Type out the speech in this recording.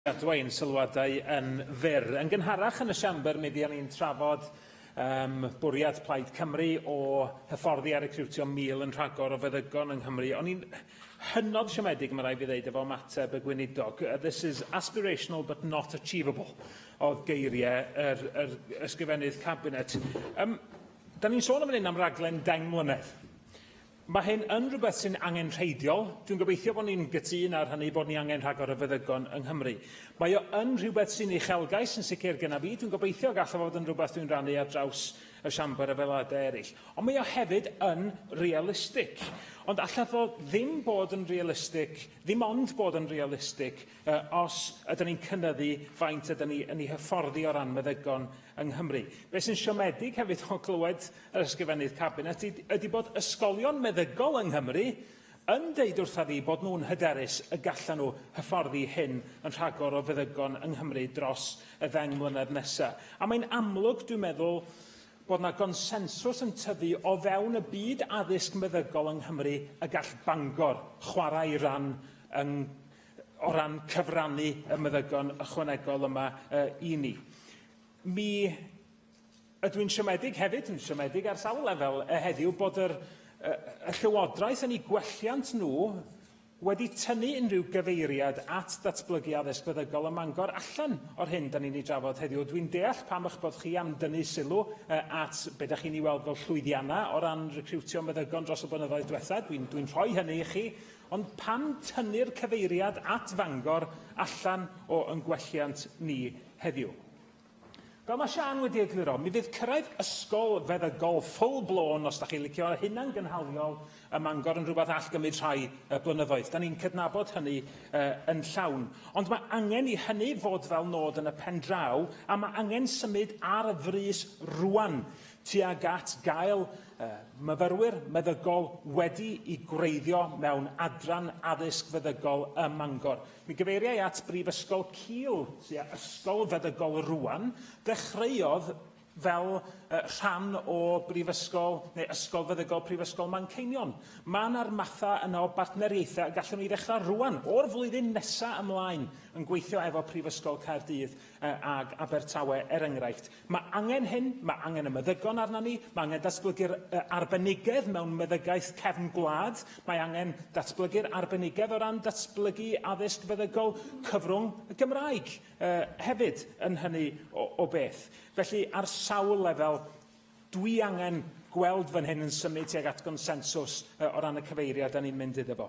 gadwa ein sylwadau yn fyr. Yn gynharach yn y siambr, mi fuon ni'n trafod um, bwriad Plaid Cymru o hyfforddi a recriwtio mil yn rhagor o feddygon yng Nghymru. O'n i'n hynod siomedig, mae rai fi ddeud, efo mateb y gweinidog. Uh, this is aspirational but not achievable, oedd geiriau yr, yr ysgrifennydd cabinet. Um, da ni'n sôn am hyn am raglen dain mlynedd. Mae hyn yn rhywbeth sy'n angenrheidiol. Dwi'n gobeithio bod ni'n gytûn ar hynny, bod ni angen rhagor o feddygon yng Nghymru. Mae o yn rhywbeth sy'n uchelgais yn sicr gyda fi. Dwi'n gobeithio y gallaf fod yn rhywbeth dwi'n rannu ar draws y Siambr efo aelodau eraill. Ond mae o hefyd yn realistig. Ond allaf o ddim bod yn realistig, ddim ond bod yn realistig, Yy, os ydyn ni'n cynyddu faint ydyn ni yn ei hyfforddi o ran meddygon yng Nghymru. Be sy'n siomedig hefyd o glywed yr Ysgrifennydd Cabinet ydy bod ysgolion meddygol yng Nghymru yn deud wrtha fi bod nhw'n hyderus y gallan nhw hyfforddi hyn yn rhagor o feddygon yng Nghymru dros y ddeng mlynedd nesa'. A mae'n amlwg, dwi'n meddwl, bod 'na gonsensws yn tyfu o fewn y byd addysg meddygol yng Nghymru y gall Bangor chwarae ran yng o ran cyfrannu y meddygon ychwanegol yma uh, i ni. Mi ydw i'n siomedig hefyd, yn siomedig ar sawl lefel uh, heddiw, bod yr, uh, y llywodraeth yn ei gwelliant nhw wedi tynnu unrhyw gyfeiriad at ddatblygu addysg feddygol ym Mangor allan o'r hyn da ni'n ei drafod heddiw. Dwi'n deall pam eich bod chi am dynnu sylw uh, at beth da chi'n ei weld fel llwyddiannau o ran recriwtio meddygon dros y blynyddoedd diwethaf. Dwi'n dwi rhoi hynny i chi, Ond pam tynnu'r cyfeiriad at Fangor allan o yn gwelliant ni heddiw? Fel mae Siân wedi egluro, mi fydd cyrraedd ysgol feddygol full blown, os da chi'n licio, hunangynhaliol ym Mangor yn rhywbeth all gymryd rhai uh, blynyddoedd. Da ni'n cydnabod hynny uh, yn llawn. Ond mae angen i hynny fod fel nod yn y pen draw, a mae angen symud ar y frys rwan. tuag at gael myfyrwyr meddygol wedi i gwreiddio mewn adran addysg feddygol ym Mangor. Mi gyfeiriau at Brifysgol Kiel, sy' â ysgol feddygol rwan, ddechreuodd fel rhan o Brifysgol neu Ysgol Feddygol Prifysgol Manceinion. Mae yna'r mathau yna o bartneriaethau y gallwn ni ddechrau rwan, o'r flwyddyn nesaf ymlaen, yn gweithio efo Prifysgol Caerdydd ag Abertawe, er enghraifft. Mae angen hyn, mae angen y meddygon arnon ni, mae angen datblygu'r uh, arbenigedd mewn meddygaeth cefn gwlad, mae angen datblygu'r arbenigedd o ran datblygu addysg feddygol cyfrwng y Gymraeg uh, hefyd yn hynny o, o beth. Felly, ar sawl lefel, dwi angen gweld fan hyn yn symud tuag at gonsensws uh, o ran y cyfeiriad da ni'n mynd iddo fo.